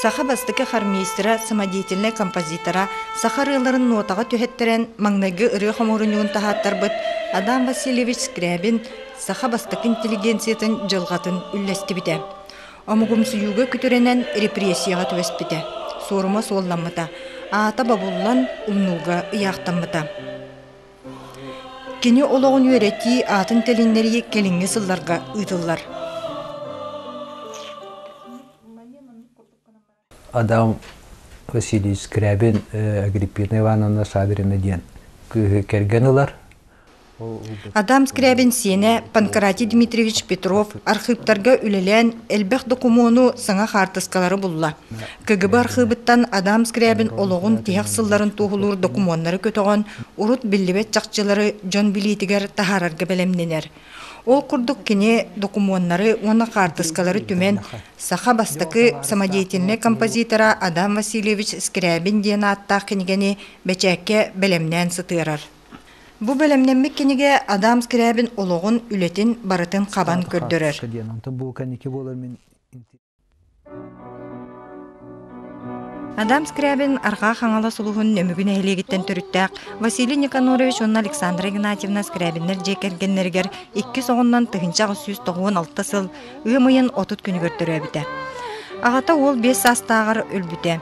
Саха бастакы хармейстера, самодеятельнай композитора, саха ырыаларын нотаҕа түһэттэрэн, маҥнайгы ырыа хомуурунньугун таһааттарбыт Адам Васильевич Скрябин саха бастакы интеллигенциятын дьылҕатын үллэстибитэ. Омугумсуйууга күтүрэнэн репрессияҕа түбэспитэ. Суорума суолламмыта, аата бобуллан, умнууга ыйаахтаммыта. Кини олоҕун үөрэтии аатын тилиннэрии кэлиҥҥи сылларга ыытыллар Адам Васильевич Скрябин Агриппина Ивановна Саврина диэн кыыһы кэргэн ылар. Адам Скрябин сиэнэ Панкратий Дмитриевич Петров архыыптарга үлэлээн элбэх докумуону, саҥа хаартыскалары булла. КГБ архыыбыттан Адам Скрябин олоҕун тиһэх сылларын туоһулуур докумуоннары көтөҕөн, урут биллибэт чахчылары дьон билиитигэр таһаарарга бэлэмнэнэр. Ол курдук кини докумуоннары уонна хаартыскалары түмэн, саха бастакы самодеятельнай композитора Адам Васильевич Скрябин диэн ааттаах кинигэни бэчээккэ бэлэмнээн сытыарар. Бу бэлэмнэммит кинигэ Адам Скрябин олоҕун, үлэтин барытын хабан көрдөрөр. Адам Скрябин Арҕаа Хаҥалас улуһун Нөмүгү нэһилиэгиттэн төрүттээх Василий Никанорович уонна Александра Игнатьевна Скрябиннар дьиэ кэргэннэригэр иккис оҕоннон тыһыынча аҕыс сүүс тоҕуон алта сыл ыам ыйын отут күнүгэр төрөөбүтэ. Аҕата уол биэс саастааҕар өлбүтэ.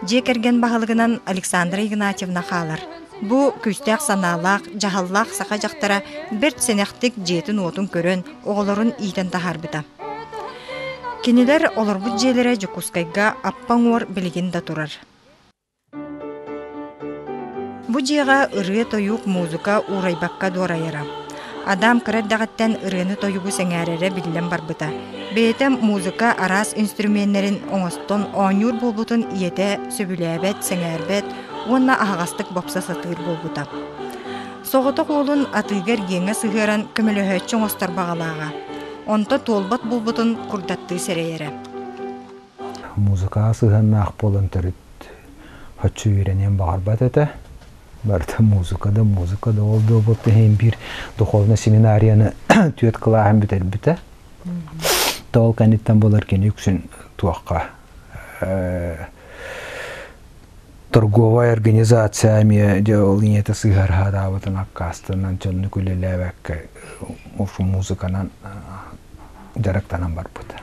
Дьиэ кэргэн баһылыгынан Александра Игнатьевна хаалар. Бу күүстээх санаалаах, дьаһаллаах саха дьахтара бэрт сэнэхтик дьиэтин-уотун көрөн, оҕолорун иитэн таһаарбыта. Кинилэр олорбут дьиэлэрэ Дьокуускайга аппа уҥуор билигин да турар. Бу дьиэҕэ ырыа, тойук, музыка уурайбакка дуорайара. Адам кыра эрдэҕиттэн ырыаны-тойугу сэҥээрэрэ биллэн барбыта. Бэйэтэ музыка араас инструменнэрин оҥостон оонньуур буолбутун ийэтэ сөбүлээбэт, сэҥээрбэт, уонна аһаҕастык бопсо сатыыр буолбута. Соҕотох уолун атыыгар иэҥэ сыһыаран көмөлөһөөччү оҥостор баҕалааҕа. Онто туолбат буолбутун курдаттыы сэрэйэрэ. Музыкаҕа сыһыаннаах буолан төрүт оччо үөрэниэн баҕарбат этэ. Барыта музыка да, музыка да ол да буолбут иһин биир духовнай семинарияны түөрт кылааһын бүтэрбитэ. Тоол кэнниттэн болар кини үксүн туохха торговая организация эмиэ дьэ ол ийэтэ сыһыарҕараабытын аккаастанан дьоннук үлэлээбэккэ музыканан дьарыктанан барбыта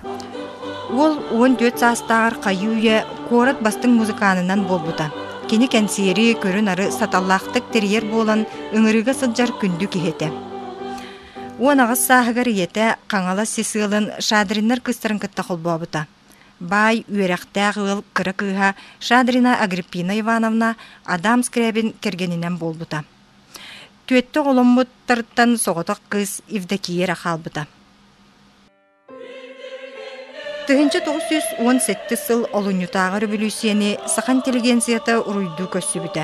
Уол уон түөрт саастааҕар хайыы-үйэ куорат бастыҥ музыканынан буолбута. Кини кэнсиэри көрү-нары саталлаахтык тэрийэр буолан, ыҥырыыга сылдьар күндү киһи этэ. Уон аҕыс сааһыгар ийэтэ Хаҥалас Сисыалын Шадриннар кыыстарын кытта холбообута. Баай үөрэхтээх ыал кыра кыыһа Шадрина Агриппина Ивановна Адам Скрябин кэргэнинэн буолбута. Түөттэ оҕоломмуттарыттан соҕотох кыыс Евдокия эрэ хаалбыта. Тыһыынча тоҕус сүүс уон сэттис сыл олунньутааҕы революцияны саха интеллигенцията уруйдуу көрсүбүтэ.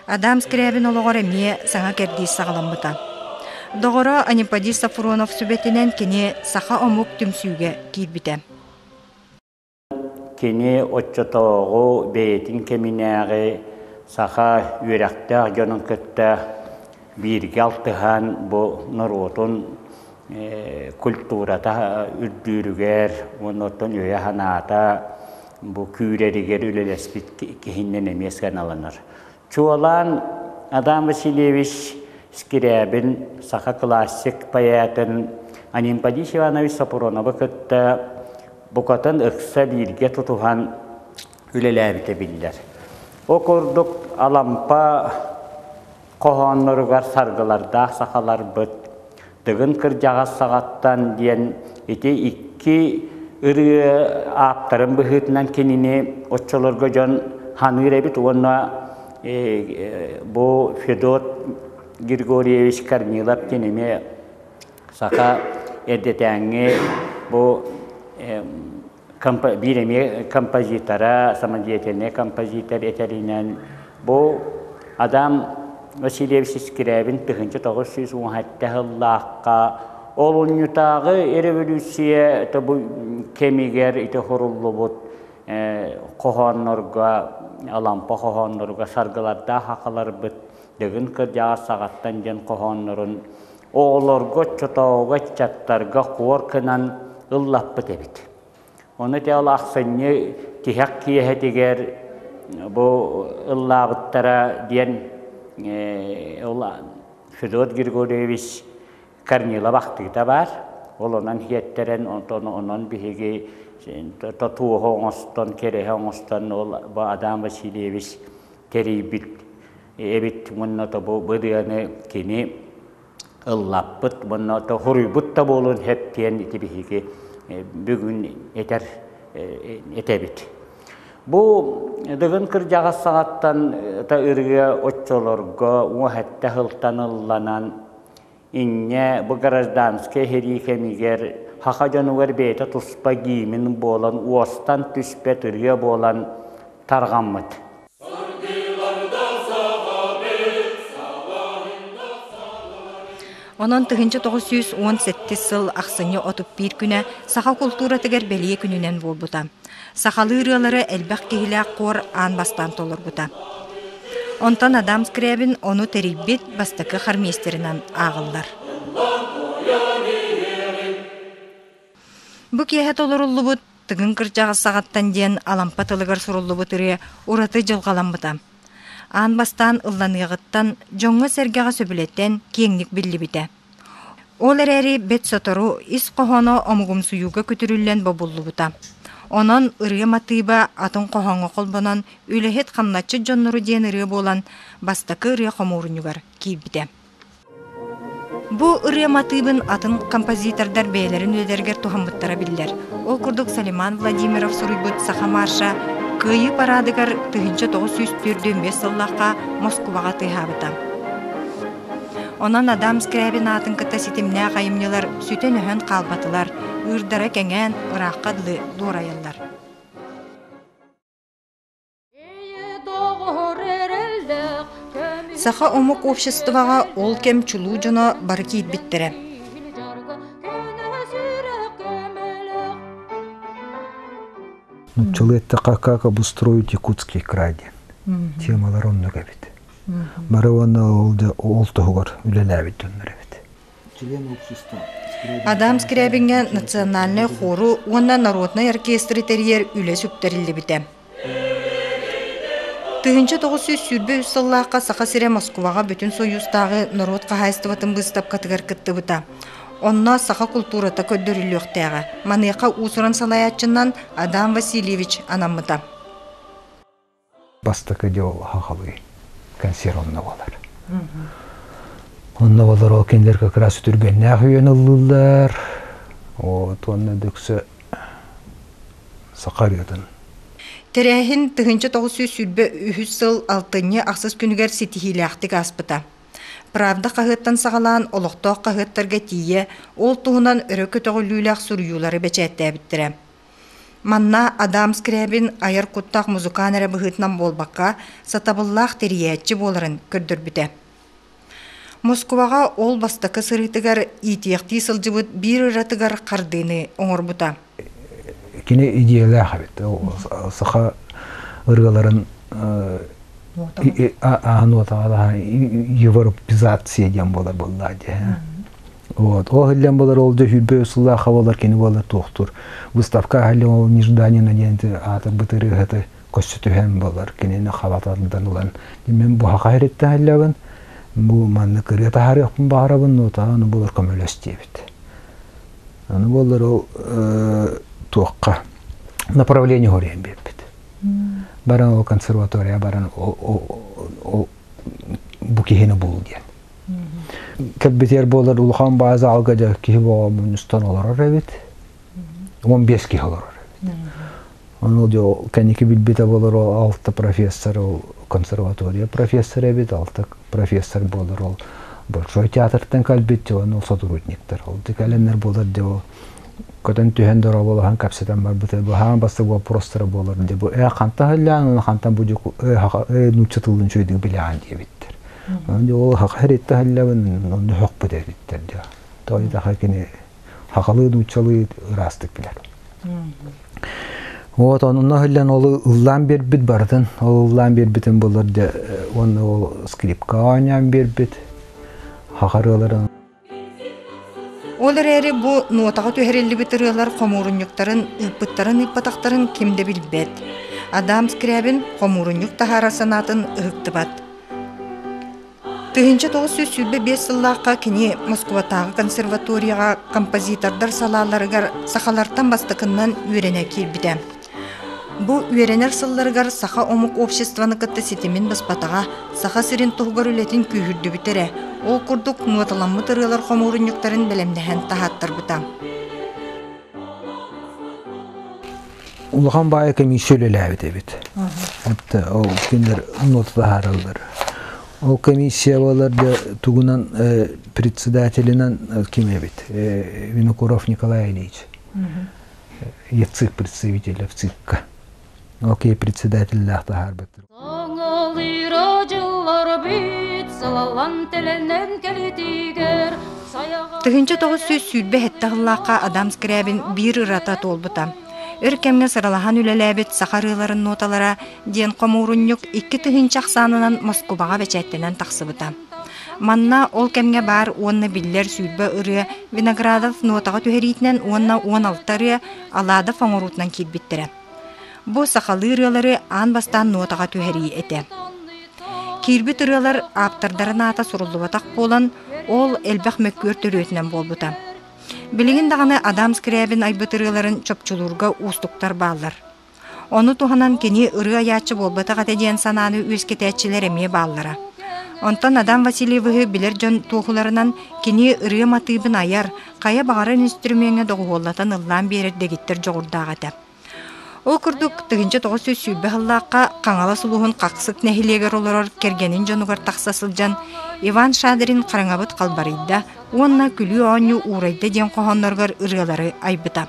Адам Скрябин олоҕор эмиэ саҥа кэрдиис саҕаламмыта. Доҕоро Анипподий Сафронов сүбэтинэн кини саха омук түмсүүгэ киирбитэ. Кини оччотооҕу бэйэтин кэминээҕи саха үөрэхтээх дьонун кытта бииргэ алтыһан бу норуотун культурата үрдүүрүгэр, оннуттан өйө-санаата бу күүрэригэр үлэлэспит киһиннэн эмиэ сыаналанар. Чуолаан Адам Васильевич Скирябин, саха классик поэтын Анимподис Иванович Сапуроновы кытта букатын ыкса бииргэ тутуһан үлэлээбитэ биллэр. Ол курдук Алампа хоһоонноругар саргылардаах сахаларбыт Тыгын кырдьаҕас саҕаттан диэн ити икки ырыа ааптарын быһыытынан кинини оччолорго дьон ханыыр эбит уонна бу Федот Григорьевич Корнилов кинини саха эрдэтээҥҥи бу биир эмиэ композитора, самодеятельный композитор этэринэн бу Адам Васильевич Скрябин тыһынчы тоғыз сүүс он хатта хыллаахха олунньутааҕы революция тобу кэмигэр ити хуруллубут хоһооннорго алампа хоһооннорго саргылардаах хахаларбыт дыгын кырдьаҕас саҕаттан диэн хоһооннорун оҕолорго, оччотооҕуга ыччаттарга хуор кынан ыллаппыт эбит. Ону таал ахсынньы тиһэх киэһэтигэр бу ыллаабыттара диэн Федот Григорьевич Корнилов ахтыыта баар. Ол онон хиэттэрэн онон биһиги тотуоһу оҥостон, кэрэһи оҥостон ол Адам Васильевич тэрийбит эбит мунна тобу быдыаны кини ыллаппыт мунна то хуруйбут да буолун хэттиэн ити биһиги бүгүн этэр этэбит Бу дыгын кырдьаҕас саҕаттан та ырыа оччолорго уһэтте хылтан ылланан Инньэ бу гражданскай иһэрии кэмигэр саха дьонугар бэйэтэ туспа гиимин буолан уостан түспэт ырыа буолан тарҕаммыт. Онон тыһыынча тоҕус сүүс уон сэттис сыл ахсынньы отут биир күнэ саха култууратыгар бэлиэ күнүнэн буолбута. Сахалыы ырыалары элбэх киһилээх хор аан бастаан толорбута. Онтон Адам Скрябин ону тэрийбит бастакы хармиэстэринэн ааҕыллар. Бу киэһэ толоруллубут Тыгын кырдьаҕас саҕаттан диэн Алампа тылыгар суруллубут ырыа ураты дьылҕаламмыта. Аан бастаан ылланыаҕыттан, дьоҥҥо-сэргэҕэ сөбүлэтэн киэҥник биллибитэ. Ол эрээри бэрт сотору ис хоһооно омугумсуйууга көтүрүллэн бобуллубута. Онон ырыа матыыба атын хоһооҥҥо холбонон «Үлэһит хамначчыт дьоннору» диэн ырыа буолан бастакы ырыа хомуурунньугар киирбитэ. Бу ырыа матыыбын атын композитордар бэйэлэрин үлэлэригэр туһаммыттара биллэр. Ол курдук Салиман Владимиров суруйбут «Саха марша» Кыайыы параадыгар тыһыынча тоҕус сүүс түөрт сыллаахха Москубаҕа тыаһаабыта. Онон Адам Скрябин аатын кытта ситимнээх айымньылар сүтэн-өһөн хаалбатылар, ыырдара кэҥээн, ыраахха дылы дуорайаллар. Саха омук обществоҕа ол кэм чулуу дьоно бары киирбиттэрэ. Нуччалыы эттэххэ, как обустроить якутские край диэн темалар оннук эбит. бары уонна ол да ол туһугар үлэлээбит дьоннор эбит Адам Скрябиҥҥа национальнай хору уонна народнай оркестры тэрийэр үлэ сүктэриллибитэ. Тыһынча тоҕус сүүс сүүрбэ үс сыллаахха Саха сирэ Москваҕа бүтүн союзтааҕы норуот хаһаайыстыбатын быыстапкатыгар кыттыбыта. Онно саха култуурата көрдөрүллүөхтээҕэ. Маныаха уусуран салайааччынан Адам Васильевич анаммыта. бастакы дьол хахалыы консерв онно болар. Онно болар ол кинилэр как раз түргэннээх үйөн ыллыллар. Вот онно дөксө саха ырыатын Тэрээһин тыһынча тоғыз сүүс сүүрбэ үһүс сыл алтынньы ахсыс күнүгэр ситиһиилээхтик ааспыта. Правда хаһыаттан саҕалаан олохтоох хаһыаттарга тиийэ ол туһунан өрө көтөҕүлүүлээх суруйуулары бэчээттээбиттэрэ. Манна Адам Скрябин айар куттаах музыкант эрэ быһыытынан буолбакка, сатабыллаах тэрийээччи буоларын көрдөрбүтэ. Москваҕа ол бастакы сырыытыгар иитиэхтии сылдьыбыт биир ыратыгар хардыыны оҥорбута. Кини идиэлээх эбит. Саха ырыаларын ааһан уотаҕа Европизация диэн буолар буоллаа дии. Вот. Ол иһиллэн болар ол да сүүрбэ сыллааха болар кини болар туохтур. Выставка ахаллан ол Нежданина диэн аатыр бытырыыһаты көссө түһэн болар кинини хабатардан ылан. Мен бу хаха хереттен хиллабын. Бу манна кырыа тахарыахпын баарабын, но тааны болар көмөлөстиэбит. Аны болар ол туохха направление хорен беппит. Баран ол консерватория баран ол бу киһини бул диэн. кэлбитигэр буолар улахан баай заалга дьэ киһи боҕо мунньустан олорор эбит он бес киһи олорор эбит ону дьэ кэнники билбитэ болор ол алта профессор ол консерватория профессор эбит алта профессор буолар ол большой театртан кэлбит дьэ ол сотрудниктар ол кэлэннэр буолар дьэ көтөн түһэн дорооболоһон кэпсэтэн барбыта быһаам баста вопростара буолар дии бу э хантан ыллаан хантан бу эһаҕа э нучча тылын чөйдүг билаан диэбиттэр ол хах херитте халлабын онно хөхпүт эриттер дия той таха кини хахалыы нуччалыы ыраастык билер вот онуна хыллан ол ыллаан бербит бардын ол ыллаан бербитин болар да оны ол скрипка онян бербит хахарыларын Ол эрээри бу нуотаҕа түһэриллибит ырыалар хомуурунньуктарын ыыппыттарын-ыыппатахтарын ким да билбэт. Адам Скрябин хомуурунньук таһаарар санаатын ыһыктыбат. Тыһыынча тоҕус сүүс сүүрбэ биэс сыллаахха кини Москубатааҕы консерваторияҕа композитордар салааларыгар сахалартан бастакыннан үөрэнэ киирбитэ. Бу үөрэнэр сылларыгар саха омук обществоны кытта ситимин быспатаҕа, Саха сирин туһугар үлэтин күүһүрдүбүтэ эрэ, ол курдук нуоталаммыт ырыалар хомуурунньуктарын бэлэмнэһэн таһааттарбыта. Улахан баайа комиссия үлэлээбит эбит. ол кинилэр нота таһаараллар. Ол комиссия болар да тугунан председателинан ким эбит? Винокуров Николай Ильич. я цирк представителя в циркка. Окей, председателлээх таһаарбыттыр. Тыһынча тоҕус сүүс сүүрбэ хэтtä сыллаахха Адам Скрябин биир ырата туолбута. Өр кэмҥэ сыралаһан үлэлээбит саха ырыаларын ноталара диэн хомуурунньук икки тыһыынча ахсаанынан Москубаҕа бэчээттэнэн тахсыбыта. Манна ол кэмҥэ баар уонна биллэр сүүрбэ ырыа Виноградов нотаҕа түһэриитинэн уонна уон алта ырыа Алаадап оҥоруутунан киирбиттэрэ. Бу сахалыы ырыалары аан бастаан нотаҕа түһэрии этэ. Киирбит ырыалар ааптардарын аата суруллубатах буолан, ол элбэх мөккүөр төрүөтүнэн буолбута. Билигин даҕаны Адам Скрябин айбыт ырыаларын чопчулуурга уустуктар бааллар. Ону туһанан кини ырыа айааччы буолбатах этэ диэн санааны үөскэтээччилэр эмиэ бааллара. Онтон Адам Васильевиһы билэр дьон туоһуларынан кини ырыа матыыбын айар, хайа баҕарар инструменҥа доҕуһуоллатан ыллаан биэрэр дэгиттэр дьоҕурдаах этэ. Ол курдук, тыһыынча тоҕус сүүс сүүрбэ сыллаахха Хаҥалас улууһун Хахсык нэһилиэгэр олорор кэргэнин дьонугар тахса сылдьан Иван Шадрин хараҥабыт халбарыйда уонна күлүү оонньуу уурайда диэн хоһоонноругар ырыалары айбыта.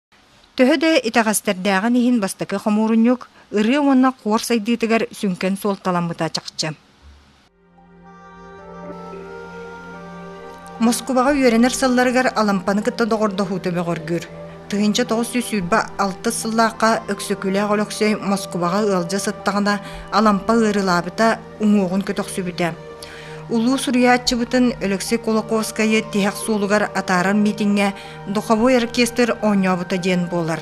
Төһө да итэҕэстэрдээҕин иһин бастакы хомуурунньук ырыа уонна хуор сайдыытыгар сүҥкэн суолталаммыта чахчы. Москубаҕа үөрэнэр сылларыгар Алампаны кытта доҕордоһуу көмөҕөргүүр. Тыһыынча тоҕус сүүс сүүрбэ алтыс сыллаахха Өксөкүлээх Өлөксөй Москубаҕа ыалдьа сыттаҕына Алампа ыарыылаабыта, уҥуоҕун көтөхсүбүтэ. Улуу суруйааччыбытын Алексей Кулаковскайы тиһэх суолугар атаарар миитиҥҥэ Духовой оркестр оонньообута диэн буолар.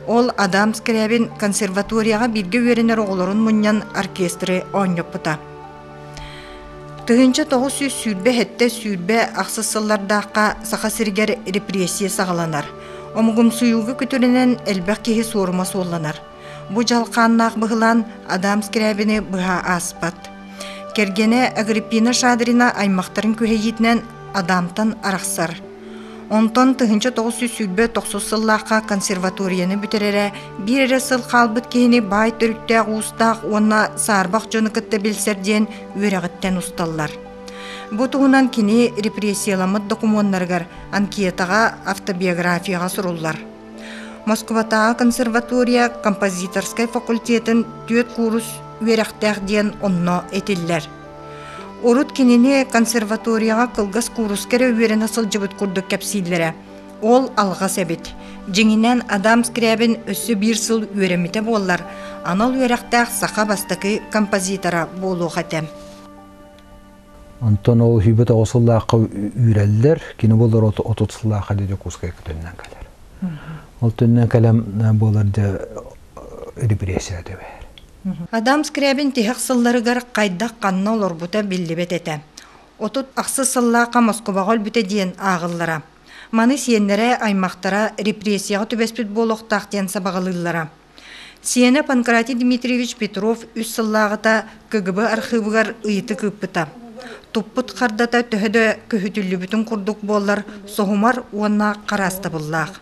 Ол Адам Скрябин консерваторияҕа бииргэ үөрэнэр оҕолорун мунньан оркестры оонньоппута. Тыһынча тоҕус сүүс сүүрбэ хэттэ сүүрбэ ахсыс сыллардаахха Саха сиригэр репрессия саҕаланар. Омугумсуйууга күтүрэнэн элбэх киһи суорума суолланар. Бу дьалхааннаах быһылаан Адам Скрябины быһа ааспат. Кэргэнэ Агриппина Шадрина аймахтарын күһэйиитинэн Адамтан арахсар. Онтон тыһыынча тоҕус сүүс сүүрбэ тохсус сыллаахха консерваторияны бүтэрэрэ биир эрэ сыл хаалбыт киһини баай төрүттээх уустаах уонна саарбах дьону кытта билсэр диэн үөрэҕиттэн усталлар. Бу туһунан кини репрессияламмыт докумуоннарыгар, анкетаҕа, автобиографияҕа суруллар. Москватааҕы консерватория композиторскай факультетын түөрт куурус үөрэхтээх диэн онно этиллэр. Урут кинини консерваторияҕа кылгас кууруска эрэ үөрэнэ сылдьыбыт курдук кэпсииллэрэ. Ол алҕас эбит. Дьиҥинэн Адам Скрябин өссө биир сыл үөрэммитэ буоллар, анал үөрэхтээх саха бастакы композитора буолуох этэ. Онтон ол сүүбэт оҕо сыллаахха үүрэллэр. Кини болор отут сыллаах әле Дьокуускай көтөннөн кэлэр. Ол төннөн кэлэн буолар да репрессия төбөһөр. Адам Скрябин тиһэх сылларыгар хайдах-ханна олорбута биллибэт этэ. Отут ахсыс сыллаахха Москубаҕа өлбүтэ диэн ааҕыллара. Маны сиэннэрэ, аймахтара репрессияҕа түбэспит буолуохтаах диэн сабаҕалыыллара. Сиэнэ Панкратий Дмитриевич Петров үс сыллааҕыта КГБ архыыбыгар ыйытык ыыппыта. Туппут хардата төһө да көһүтүллүбүтүн курдук буоллар, соһумар уонна хараастабыллаах.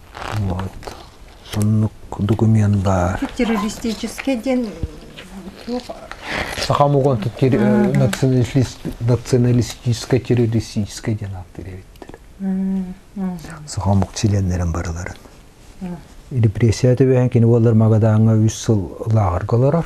Вот соннук документ баар. Террористический диэн туох Сахам уган националистической террористической диэн ааттыыр эбиттэр. Сахам ук членнерин барыларын. Репрессия төбөһөн кини буоллар Магадааҥа үс сыл лааҕырга олорор.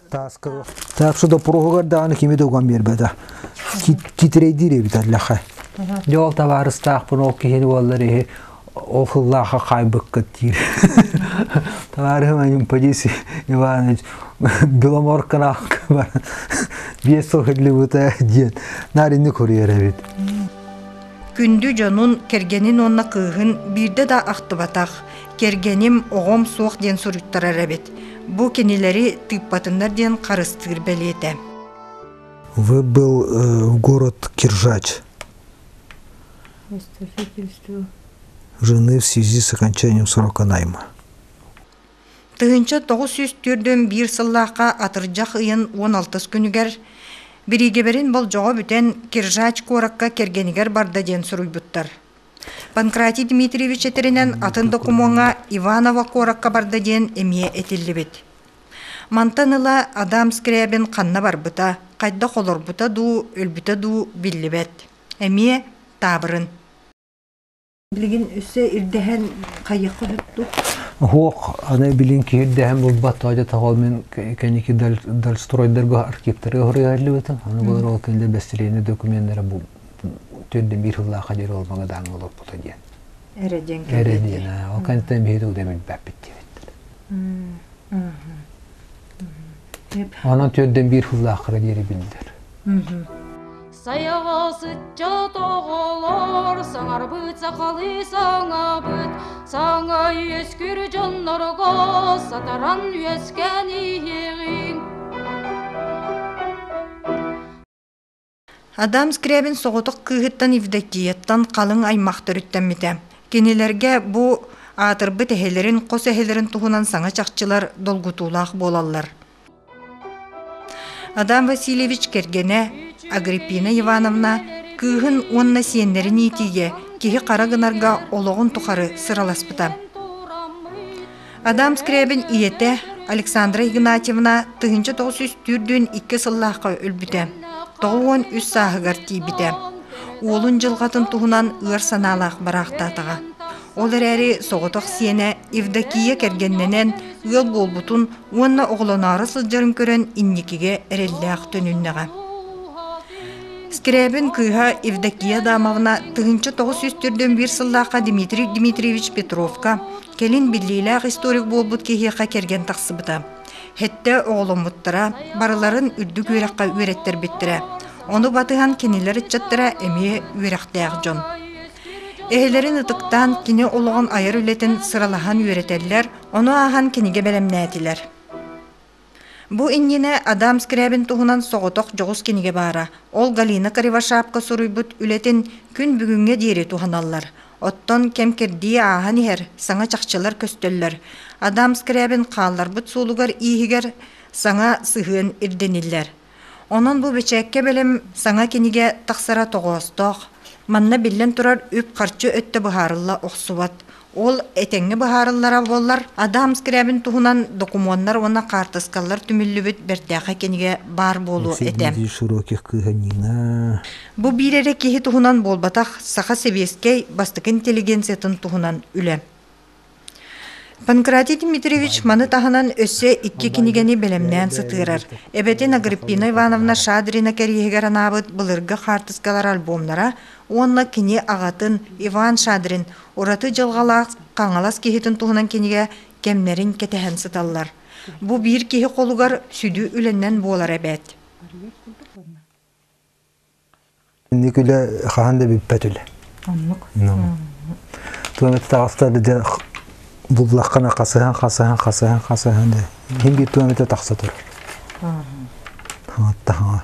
Тааска. Так что доппуруһугар даҕаны кими да уган биэрбэтэ. Титирейдиир эбитэ лэхэ. Дьэ ол табаарыстаахпын ол киһини уоллар иһи ол хыллаахха хаайбыккыт диир. Товарищ Анюпадис Иванович, Беломорканаахка бар биэс сыл хиллибута диэн наринни курьер эбит. Күндү дьонун, кэргэнин уонна кыыһын биирдэ да ахтыбатах, Кэргэним оҕом суох диэн суруйтарар эбит. Бу кинилэри тыыппатыннар диэн харыстыыр бэлиэтэ. Вы был э, в город Киржач. Жены в связи с окончанием срока найма. Тыһынча 904-1 сыллаахха атырдьах ыйын 16 күнүгэр бириигибэрин болдьоҕо бүтэн Киржач куоракка кэргэнигэр барда диэн суруйбуттар. Панкратий Дмитриевич этэринэн атын докумуоҥа Иваново куоракка барда диэн эмиэ этиллибит. Мантан ыла Адам Скрябин ханна барбыта, хайдах олорбута дуу, өлбүтэ дуу биллибэт. Эмиэ таабырын. Билигин өссө ирдэһэн хайыахха сөптүк? Оһуох аны билин киирдэһэн булбат тоойда того мен кэники дальстройдерго архивтары хоруйаллыбытым. Аны болар ол кэнде бэстилиэнэ докуменнары бул Төннө биир сыллаахха диэри ол маҥа дааны олорпута диэн. Эрэ диэн Эрэ диэн. Ол кэнниттэн биһиги тугу да билбэппит диэбиттэр. Онон төрдөн биир сыллааххара диэри биллэр. Сайаҕас ыччат оҕолор саҥарбыт сахалыы саҥабыт саҥа үөскүр дьоннорго сатаран үөскээн иһиэҕиҥ Адам Скрябин соҕотох кыыһыттан Евдокияттан халыҥ аймах төрүттэммитэ. Кинилэргэ бу аатырбыт эһэлэрин, хос эһэлэрин туһунан саҥа чахчылар долгутуулаах буолаллар. Адам Васильевич кэргэнэ Агриппина Ивановна кыыһын уонна сиэннэрин иитиигэ киһи хара гынарга олоҕун тухары сыраласпыта. Адам Скрябин ийэтэ Александра Игнатьевна тыһыынча тоҕус сүүс түүрдүүн икки сыллаахха өлбүтэ, тоҕус уон үс сааһыгар тиийбитэ. Уолун дьылҕатын туһунан ыар санаалаах бараахтаатаҕа. Ол эрээри соҕотох сиэнэ Евдокия кэргэннэнэн ыал буолбутун уонна оҕолоноро сылдьарын көрөн инникигэ эрэллээх төнүннэҕэ. Скрябин кыыһа Евдокия Адамовна тыһыынча тоҕус сүүс төрдөн биир сыллаахха Дмитрий Дмитриевич Петровка, Кэлин биллиилээх историк буолбут киһиэхэ кэргэн тахсыбыта. Хэттэ оҕоломмуттара, барыларын үрдүк үөрэххэ үөрэттэрбиттэрэ. Ону батыһан кинилэр ыччаттара эмиэ үөрэхтээх дьон. Эһэлэрин ытыктаан кини олоҕун айар үлэтин сыралаһан үөрэтэллэр, ону ааһан кинигэ бэлэмнээтилэр. Бу иннинэ Адам Скрябин туһунан соҕотох дьоҕус кинигэ баара. Ол Галина Кривошапко суруйбут үлэтин күн бүгүҥҥэ диэри туһаналлар. Оттон кэм-кэрдии ааһан иһэр, саҥа чахчылар көстөллөр. Адам Скрябин хаалларбыт суолугар-ииһигэр саҥа сыһыан ирдэниллэр. Онон бу бэчээккэ бэлэм саҥа кинигэ тахсара тоҕоостоох. Манна биллэн турар үп-харчы өттө быһаарылла охсубат. Ол этэҥҥэ быһаарыллара буоллар, Адам Скрябин туһунан докумуоннар уонна хаартыскалар түмүллүбүт бэртээхэй кинигэ баар буолуо этэ. широких кыһанина. Бу биир эрэ киһи туһунан буолбатах, саха сэбиэскэй бастакы интеллигенциятын туһунан үлэ. Панкратий Дмитриевич маны таһынан өссө икки кинигэни бэлэмнээн сытыарар. Эбэтин Агриппина Ивановна Шадрина кэриэһигэр анаабыт былыргы хаартыскалар альбомнара уонна кини аҕатын Иван Шадрин ураты дьылҕалаах Хаҥалас киһитин туһунан кинигэ кэмнэрин кэтэһэн сыталлар. Бу биир киһи холугар сүдү үлэннэн буолар эбээт. Инник үлэ хаһан да бүппэт үлэ. Оннук. Туоми таҕыста да буллаххына хасыһан хасыһан хасыһан хасыһан да иһинги туомите тахса тур. Хаҕаттаҕа.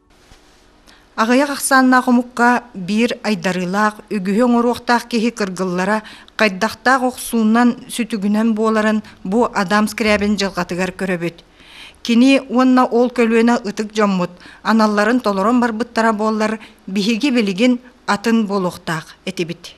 Аҕыйах ахсааннаах омукка биир айдарыылаах, үгүһү оҥоруохтаах киһи кыргыллара хайдахтаах охсууннан сүтүгүнэн буоларын бу Адам Скрябин дьылҕатыгар көрөбүт. Кини уонна ол көлүөнэ ытык дьоммут аналларын толорон барбыттара буоллар, биһиги билигин атын буолуохтаах этибит